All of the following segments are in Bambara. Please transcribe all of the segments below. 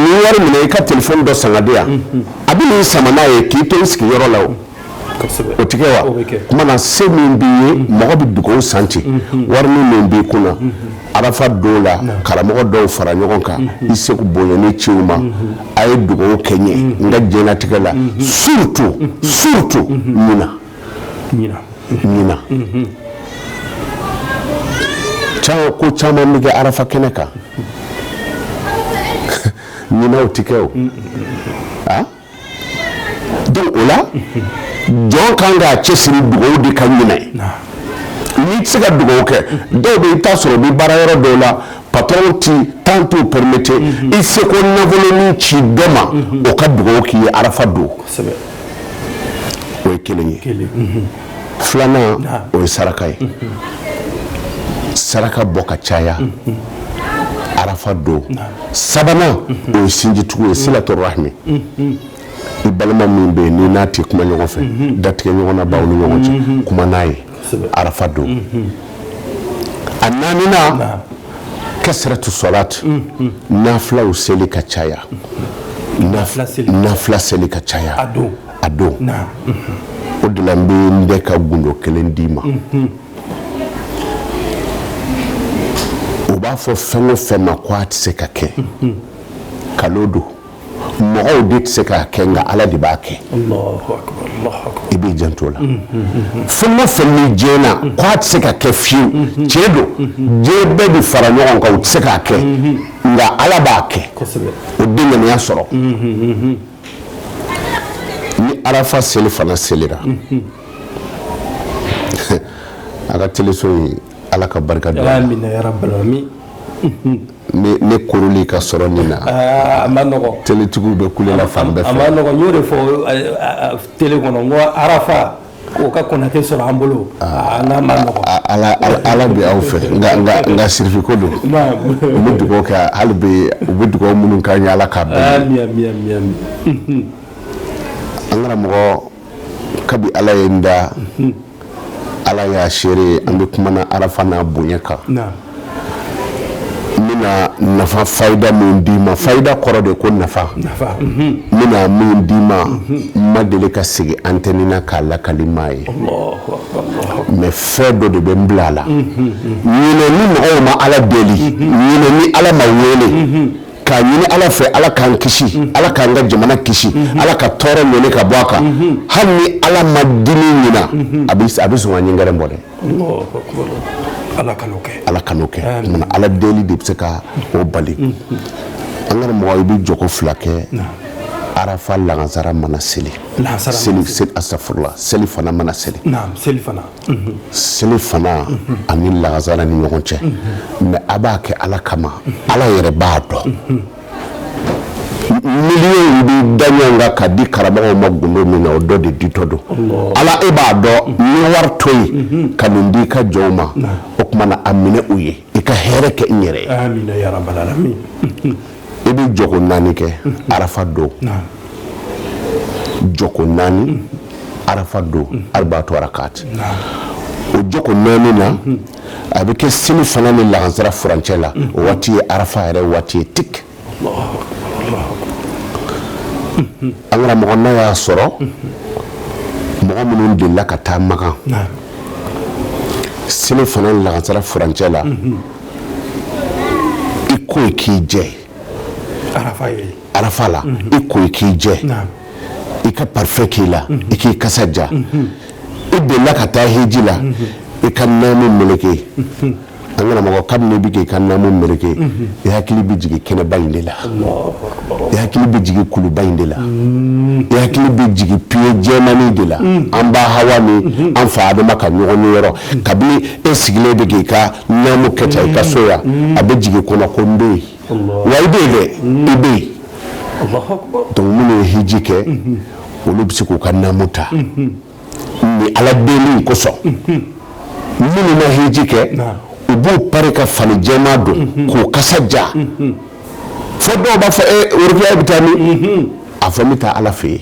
nin wari minɛ i ka telefɔni dɔ san ka di yan a bɛ nin sama n'a ye k'i to i sigiyɔrɔ la o tɛ kɛ wa kuma na se min b'i ye mɔgɔ bɛ dugawu san ten wari min b'i kun arafa don la karamɔgɔ dɔw fara ɲɔgɔn kan i seko bonyanin ci u ma a ye dugawu kɛ n ye n ka diɲɛlatigɛ la surtout surtout ɲinan ɲinan ko caman bɛ kɛ arafa kɛnɛ kan ɲinan u tɛ kɛ o donc o la jɔn kan k'a cɛsiri dugawu de kan ɲinan n'i tɛ se ka dugawu kɛ dɔw bɛ i t'a sɔrɔ bɛ baarayɔrɔ dɔw la patron tɛ temps t'u permettre i seko nafolonin ci dɔ ma o ka dugawu k'i ye arafa don o ye kelen ye filanan o ye saraka ye saraka bɔ ka caya arafa don sabanan o ye sinjitugu ye silatu rahimi i balima min bɛ yen n'i n'a tɛ kuma ɲɔgɔn fɛ datigɛ ɲɔgɔn na b'aw ni ɲɔgɔn cɛ kuma n'a ye arafa don a naaninan kasiratu salati nafilaw seli ka caya nafila seli ka caya a don o de la n bɛ n bɛ ka gundo kelen d'i ma u b'a fɔ fɛn o fɛn ma ko a tɛ se ka kɛ nkalon don mɔgɔw de tɛ se k'a kɛ nka ala de b'a kɛ i b'i janto la fɛn o fɛn ni diɲɛna k'a tɛ se ka kɛ fiyewu tiɲɛ don diɲɛ bɛɛ bɛ fara ɲɔgɔn kan u tɛ se k'a kɛ nka ala b'a kɛ o dɛnkɛnɛya sɔrɔ ni arafa selifana selira a ka teleso in ala ka barika don ne korolen ka sɔrɔ nin na a man nɔgɔ teletigiw bɛ kule la fan bɛɛ fɛ a man nɔgɔ n y'o de fɔ tele kɔnɔ n ko arafa o ka kɔnate sɔrɔ an bolo nka a man nɔgɔ ala bɛ aw fɛ nka sirifi ko don u bɛ dugawu kɛ hali bi u bɛ dugawu minnu k'an ye ala k'a bɛn an karamɔgɔ kabi ala ye n da mhm. ala y'a seere ye an bɛ kuma na arafa n'a bonya kan n bɛna nafa fayida min d'i ma fayida kɔrɔ de ko nafa n mhm. bɛna min d'i ma mhm. n ma deli ka sigi antɛni na k'a lakali maa ye mais fɛn dɔ de bɛ n bila a la ɲinɛ ni mɔgɔw ma ala deli ɲinɛ ni ala ma wele k'a ɲini ala fɛ ala k'an kisi mhm. ala k'an ka jamana kisi mhm. ala ka tɔɔrɔ ɲɔni ka bɔ a kan mhm. hali ni ala ma dimi ɲina a bɛ sɔn ka ɲingɛrɛ bɔ dɛ ala kan'o kɛ ala kan'o kɛ mana ala deli de bɛ se ka o bali an karamɔgɔ i bɛ jɔko fila kɛ arafa lagansara mana seli seli asafurula selifana mana seli selifana ani lagansara ni ɲɔgɔn cɛ mɛ a b'a kɛ ala kama ala yɛrɛ b'a dɔn miliyɔn bɛ da ɲɔgɔn kan ka di karamɔgɔw ma gundo min na o dɔ de ditɔ don ala e b'a dɔn n ye wari to yen ka nin di i ka jɔnw ma o tuma na a minɛ u ye i ka hɛrɛ kɛ n yɛrɛ ye i bɛ jɔko naani kɛ arafa don jɔko naani arafa don arba'atu raka'at o jɔko naani na a bɛ kɛ selifana ni lagansara furancɛ la o waati ye arafa yɛrɛ waati ye tigi an karamɔgɔ n'a y'a sɔrɔ mɔgɔ minnu delila ka taa makan selifana ni lagansara furancɛ la i ko i k'i jɛ arafa la i ko i k'i jɛ i ka parifɛn k'i la i k'i kasa ja i delila ka taa hiji la i ka namu meleke an karamɔgɔ kabini i bɛ k'i ka namu meleke i hakili bɛ jigin kɛnɛba in de la i hakili bɛ jigin kuluba in de la i hakili bɛ jigin pye jɛmani de la an ba hawa ni an fa adama ka ɲɔgɔnye yɔrɔ kabini e sigilen bɛ k'i ka namu kɛ tan i ka so yan a bɛ jigin i kɔnɔ ko n bɛ yen wa i bɛ yen dɛ i bɛ yen donc minnu ye hiji kɛ olu bɛ se k'u ka namu ta ni ala deli kosɔn minnu ma hiji kɛ u b'u pari ka fani jɛma don k'u kasa ja fo dɔw b'a fɔ e worokiya bɛ taa min a fɔ n bɛ taa ala fɛ yen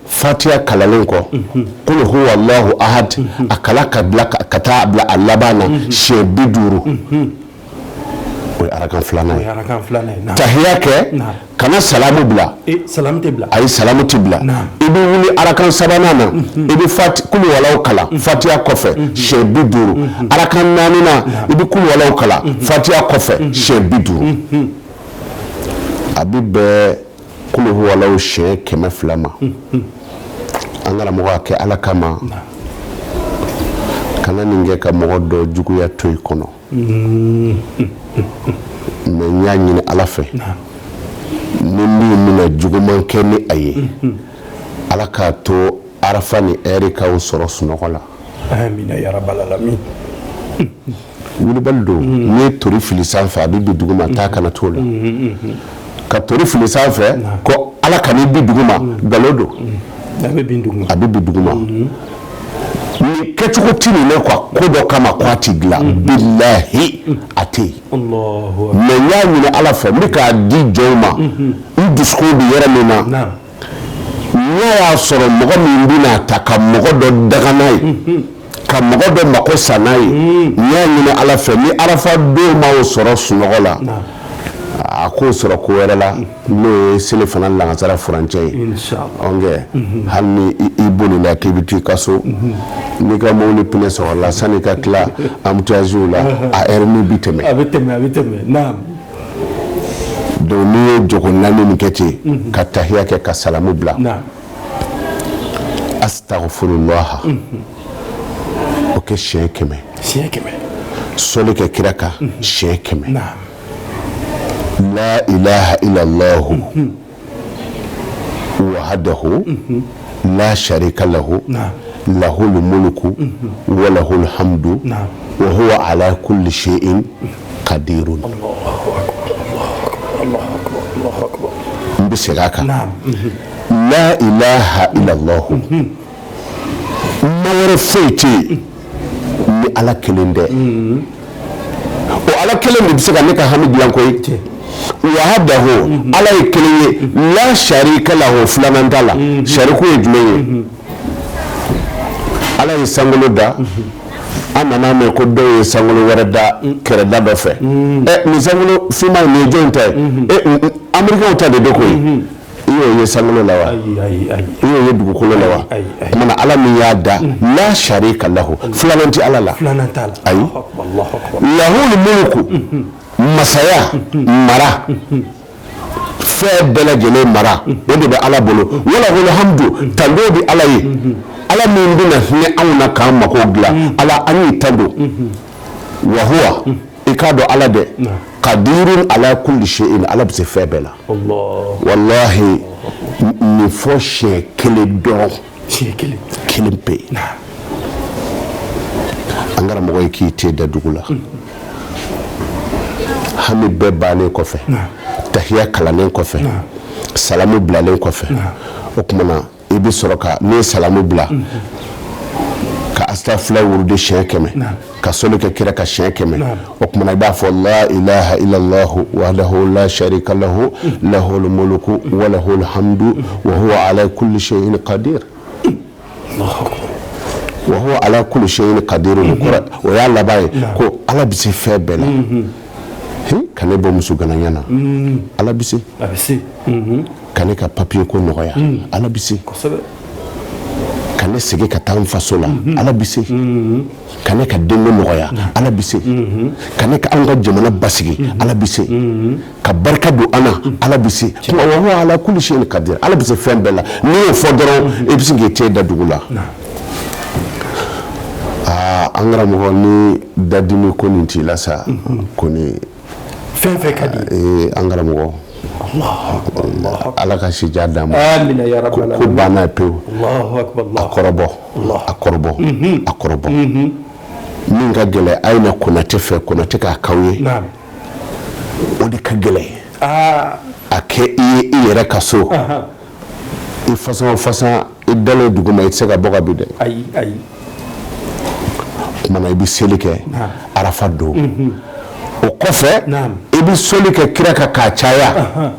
fatiya kalalen kɔ kul huwalahu ahad a kalan ka ka taa bila a laban na siɲɛ bi duuru o ye arakan filanan ye tahiya kɛ kana salamu bila ayi salamu tɛ bila i bɛ wuli arakan sabanan na i bɛ kuluwalaw kalan fatiya kɔfɛ siɲɛ bi duuru arakan naaninan i bɛ kuluwalaw kalan fatiya kɔfɛ siɲɛ bi duuru a bɛ bɛn kuluwalaw siɲɛ kɛmɛ fila ma an karamɔgɔ a kɛ ala kama kana nin kɛ ka mɔgɔ dɔ juguya to i kɔnɔ mɛ n y'a ɲini ala fɛ ni min bɛna juguman kɛ ni a ye ala k'a to arafa nin ɛri k'o sɔrɔ sunɔgɔ la Wulibali don n'i ye tori fili sanfɛ a bɛ bin dugu ma taa kana to la ka tori fili sanfɛ ko ala kan'i bin dugu ma nkalon don a bɛ bin dugu ma ni kɛcogo tɛ min na ko dɔ kama ko a tɛ dilan billahi a tɛ yen mɛ n y'a ɲini ala fɛ n bɛ k'a di jɔnw ma n dusukun bɛ yɔrɔ min na n'a y'a sɔrɔ mɔgɔ min bɛna ta ka mɔgɔ dɔ daga n'a ye ka mɔgɔ dɔ mako sa n'a ye n y'a ɲini ala fɛ ni arafa don m'aw sɔrɔ sunɔgɔ la a k'o sɔrɔ ko wɛrɛ la n'o ye selifana lagasara furancɛ ye mhm. hali ni i bolila k'i bɛ ta i ka so mhm. n'i ka mobili pinɛ sɔgɔla sanni ka tila embouteillage la a ɛri min bi tɛmɛ a bɛ tɛmɛ a bɛ tɛmɛ naam donc n'i ye jogo naani nin kɛ ten mhm. ka tahiya kɛ ka salamu bila astagfirullah o kɛ siyɛn kɛmɛ siyɛn kɛmɛ sɔli kɛ kira kan siyɛn kɛmɛ la ilaha illallah wahdahu la sarika lahu lahul mulku walahul hamdu wahuwa ala kulli sayin kadirun n bɛ segin a kan la ilaha illallah ma wɛrɛ foyi tɛ yen ni ala kelen tɛ o ala kelen de bɛ se ka ne ka hami dilan koyi wahdahu ala ye kelen ye la sarika lahu filanan t'a la sariku ye jumɛn ye ala ye sankolo da an nan'a mɛn ko dɔw ye sankolo wɛrɛ da kɛrɛda dɔ fɛ nin sankolo finma nin ye jɔn ta ye amerikɛnw ta de don koyi i y'o ye sankolo la wa ayi ayi ayi i y'o ye dugukolo la wa ayi ayi tuma ala min y'a da la sarika lahu filanan tɛ ala la filanan t'a la ayi lahul mulku masaya mara fɛn bɛɛ lajɛlen mara o de bɛ ala bolo walahul hamdu tando bɛ ala ye ala min bɛna hinɛ anw na k'an mako dilan ala an y'i tando wahuwa i k'a dɔn ala dɛ kadirun ala kulli sayin ala bɛ se fɛn bɛɛ la walayi nin fɔ siyɛn kelen dɔrɔn kelen pe an kɛra mɔgɔ ye k'i ten da dugu la hami bɛɛ bannen kɔfɛ tahiya kalannen kɔfɛ salamu bilalen kɔfɛ o tuma na i bɛ sɔrɔ ka ne salamu bila ka astafurlah wurudi siyɛn kɛmɛ ka soli kɛ kira kan siyɛn kɛmɛ o kumana i b'a fɔ la ilaha illallah wahdahu la sharika lahu lahul mulku wa lahul hamdu wa huwa ala kulli shay'in qadir wa huwa ala kulli shay'in qadir kɔrɔ o y'a laban ye ko ala bɛ se fɛn bɛɛ la ka ne bɔ musoganaya na ala bɛ ka ne ka papiye ko nɔgɔya mm. ala bɛ se ka ne segin ka taa n faso la mm-hmm. ala bɛ se mm-hmm. ka ne ka denko nɔgɔya mm-hmm. ala bɛ se ka ne ka an ka jamana basigi ala bɛ se ka barika don an na ala bɛ se wa huwa ala kulli shay'in qadir ala bɛ se fɛn bɛɛ la n'i y'o fɔ dɔrɔn i bɛ se k'i ten da dugu la aa an karamɔgɔ ni dadimi ko nin t'i la sa kɔni fɛn fɛn ka di ee an karamɔgɔ ala ka si jan d'a ma amina ya rabbal alamin ko banna pewu Allahu akbar a kɔrɔbɔ a kɔrɔbɔ a kɔrɔbɔ min ka gɛlɛ a ye na konate fɛ konate k'a k'aw ye naam o de ka gɛlɛ aa a kɛ i ye i yɛrɛ ka so i fasa o fasa i dalen dugu ma i tɛ se ka bɔ ka bin dɛ ayi ayi kumana i bɛ seli kɛ arafa don mhm. o kɔfɛ i bɛ soli kɛ kira kan k'a caya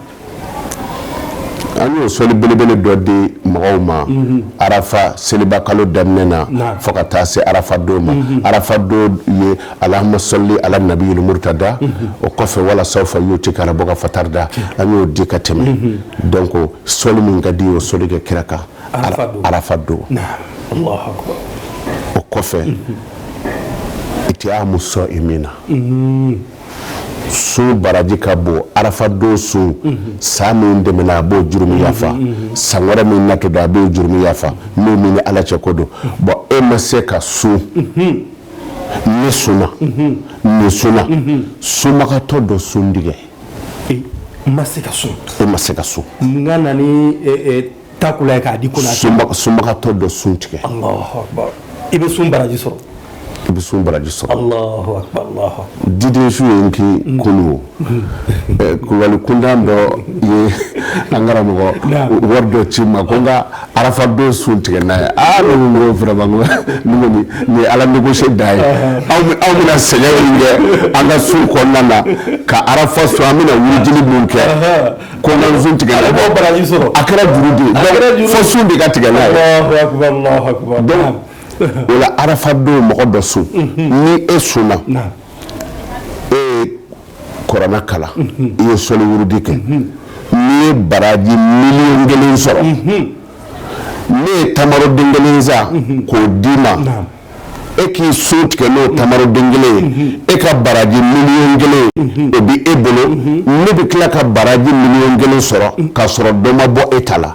an y'o soli belebele dɔ di mɔgɔw ma mhm. arafa seliba kalo daminɛ na fo ka taa se arafa don ma mhm. arafa don ye Allahumma salli ala nabiyil murtada o kɔfɛ wala sawfa yutika rabbuka fatarda an y'o di ka tɛmɛ donc soli min ka di o soli kɛ kira kan arafa don o kɔfɛ itiamu sa'imina sun baraji ka bon arafa don sun san min tɛmɛna a b'o jurumu yafa san wɛrɛ min natɔ don a b'o jurumu yafa n'o min ni ala cɛ ko don bon e ma se ka sun min sunna min sunna sunbagatɔ dɔ sun tigɛ ma se ka sun e ma se ka sun nka na ni takula ye k'a di ko sunbagatɔ dɔ sun tigɛ i bɛ sun baraji sɔrɔ i bɛ sun baraji sɔrɔ diden su ye k'i kolo Kulubali kuntan dɔ ye an karamɔgɔ wari dɔ ci ma ko n ka arafa don sun tigɛ n'a ye ala négocier da ye aw bɛna sɛgɛn min kɛ an ka sun kɔnɔna na ka arafa sun an bɛna wuli jiri min kɛ ko sun tigɛ a kɛra fo sun de ka tigɛ n'a ye o la arafa don mɔgɔ dɔ sun ni e sun e ye kuranɛ kalan i ye sɔliwurudi kɛ n'i ye baraji miliyɔn kelen sɔrɔ ne ye tamaroden kelen san k'o d'i ma e k'i sun tigɛ n'o tamaroden kelen ye e ka baraji miliyɔn kelen o bɛ e bolo ne bɛ tila ka baraji miliyɔn kelen sɔrɔ k'a sɔrɔ dɔ ma bɔ e ta la